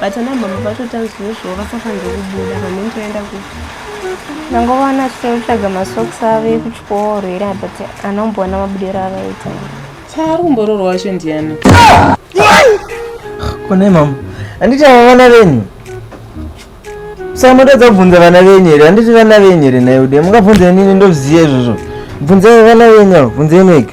But ana mama vacho tanzwe zvo vasafanire kubuda vanenge vaenda ku Ndangovanhu achitaura kutsvaga masocks avo ekuchikoro here but ana kumboona mabudiro avaita. Chaari kumboroorwa wacho ndiyani? Konai mama. Handiti ava vana venyu? Saka motadza kubvunza vana venyu here? Handiti vana venyu here nhai ude? Mungabvunza inini ndoziva izvozvo. Bvunzai vana venyu avo, bvunzai mega.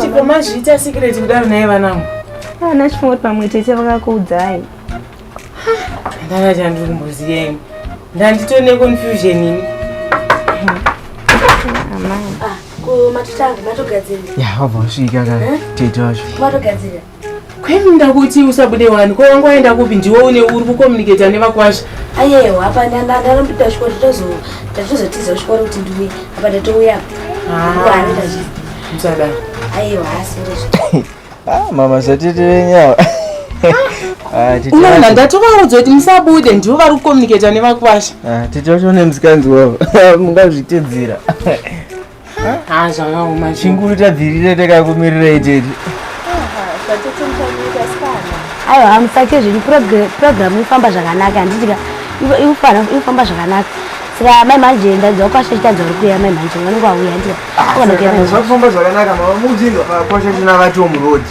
chikomazviita sikireti kudaro naye vanangu ana ah, chifungoti pamwe tete vakakuudzai ndana chandiri kumboziyeni ndanditone confusion ini amai ah, kumatitanga matogadzira ya wabva wasvika ka eh? tete wacho matogadzira kwainda kuti usabude wani ko wanga waenda kupi ndiwe une uri kukomuniketa nevakwasha ayewa apa ndandarambuda chikoro tatozotiza chikoro kuti ndiuye apa ndatouya msadaro ah. ayewa asirezvo ah, mama zvatiti venyawa ah, unaona ndatovaudza kuti musabude ndivo vari kukomuniketa nevakwasha titi vacho nemzikanzi wavo mungazvitedzera haa zvakaoma chinguri tabvirire takakumirira itete aiwa hamusake zvenyu purogiramu ifamba zvakanaka handitika ifamba zvakanaka saka mai manje ndaiziva kwasha chitadza uri kuya mai manje vanenge vauya ndikakufamba ah, zvakanaka mama muudzinga kwasha china vati omurodi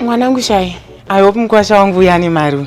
mwanangu shai i hope mukwasha wangu uya ane mari uyu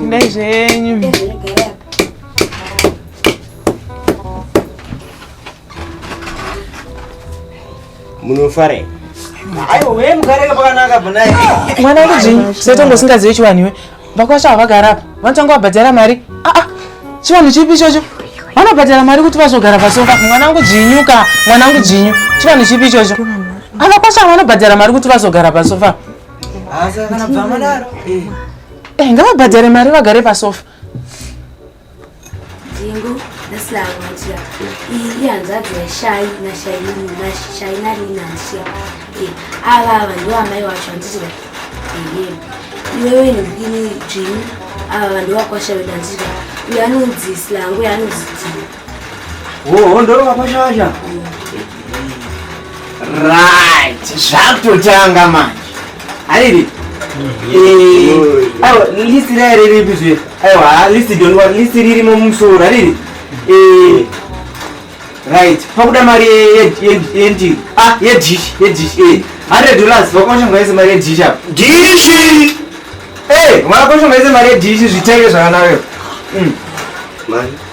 Ndai zvenyu. Munofarei? mwana kudii setongo usingazivi chivanhu iwe vakwasha havagara apa vanotanga vabhadhara mari aa ah, ah. chivanhu chipi ichocho vanobhadhara mari kuti vazogara pasofa mwana wangu dzinyu ka mwana wangu dzinyu chivanhu chipi ichocho avakwasha vanobhadhara mari kuti vazogara pasofa Eh, ngavabhadhare mari vagare pasofa dzingu ndasilaangatia iyi hanzvadzi yashai nashai narinansia eh, ava ava ndiwo amai wacho handiti iwewe ndikini dzvini ava vanhu vakwasha vedanzira uyo anonzi silangu yanonzi dzii Woho ndoro vakwashasha. Right. Zvakutotanga manje. Ariri. Eh, awa list raya riri bizwe. Aiwa list don't want list riri mumusoro ariri. Eh. Right. Pakuda mari yenti. Ah, yedish, yedish. Eh. 100 dollars vakwasha ngaise mari yedish apa. Dish. Eh, mwana kwasha ngaise mari yedish zvitenge zvakanaka. Mm. Mari.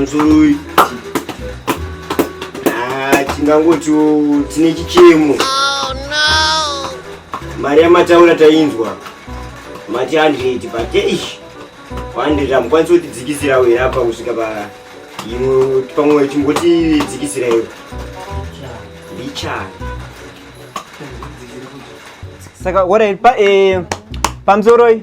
Mzurui ah, tingangoti tine chichemo. Oh, Mari yamataura tainzwa mati 100 but eish 100 hamukwanisi kutidzikisira uye apa kusvika pa imwe pamwe chimbotidzikisira iyo ndichani saka orai pa eh, pamzoroi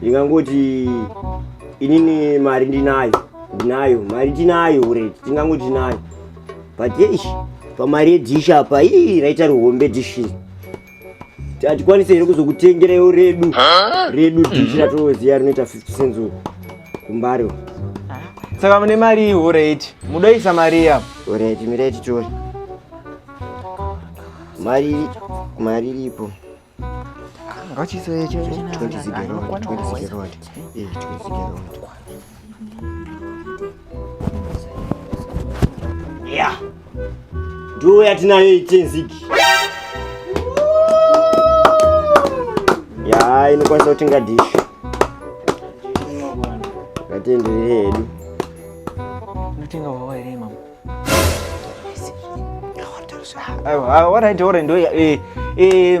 ndingangoti inini mari ndinayo ndinayo mari tinayo ure tingangoti tinayo but yeish pamari yedhishi apa ii raita rihombe dhishi hatikwanise here kuzokutengerewo redu redu dishi ratinoziva rinoita 50 cents kumbari saka mune mari iyi oreti mudoisa mari iya oreti mireti tori mari mari iripo ngachisoyecho 20 zigerod 20 zigerod 20 zigerod ya ndiwo yatinayo itenziki ya inokwanisa kutenga dishi ngatienderere hedu unotenga wawa here mama aiwa ah, ah, what i do ndo eh, eh,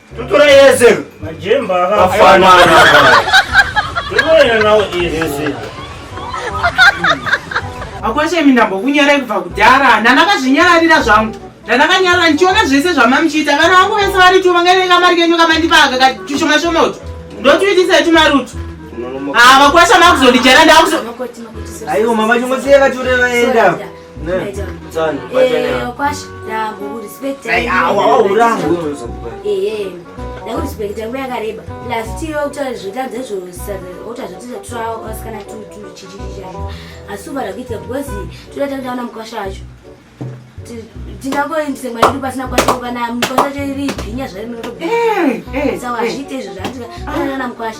Tutura yese. Majemba akafanana. Tutura nawo yese. Akwashe mindambo kunyara kubva kudhara. Nana kazvinyararira zvangu. Nana kanyara ndichiona zvese zvamamuchita. Kana wangu vese vari tu vangere kamari kenyu kamandipaga katushoma shoma utu. Ndotuitisa tumarutu. Ah, vakwasha makuzondijara ndakuzo. Ayo mama chimwe siya vature vaenda. ndakurespekita nguva yakareba lastiro kutaura zvotadza zvotadza tisatira vasikana tuchichichichaa asi upada kuita because toda takutaona mukwasha wacho tingangoendise mwana yedu pasina kwasha kana mukwasha cho iri bhinya zvarinorosawa hazviite izvo zvaandikaana mukwasha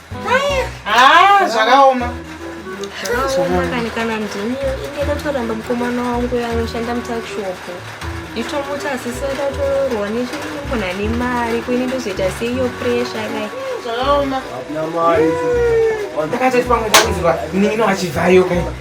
Ah, zvakaoma zvakaoma kana ndini inge ndatoramba mukomana wangu anoshanda mutakishopu nditomuti asisi ndatororwa nechimukona nemari kuine ndozoita seiyo presha kai zvakaoma ndakatoti pamwe ndakuziva nino achibvayo kai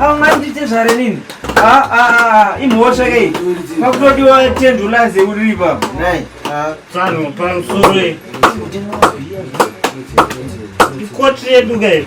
aungandiite zvare nini imhosva kei pakutodiwa tendulaze uri ipapo tsano pamusoro ikoti redu kei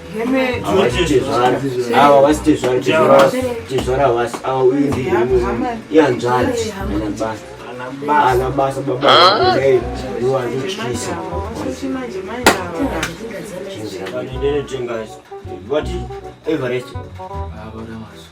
ava vasi tezvara vasi ava uyu ndiihanzvadzi anabasa anabasa babaaiwazvityisa What is Everest?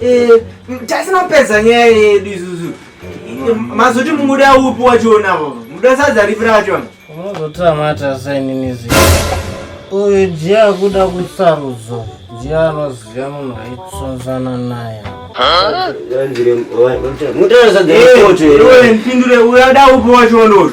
Eh, tasina kupedza nyaya yedu izuzu mazoti muda upi wachiona muda sadza ripi racho unozotamata saininizi uyu ndiye akuda kusarudzo ndiye anoziva munhu aitsonzana naye mutaura sadza ripoti ipindure uyada upi wachiona uyu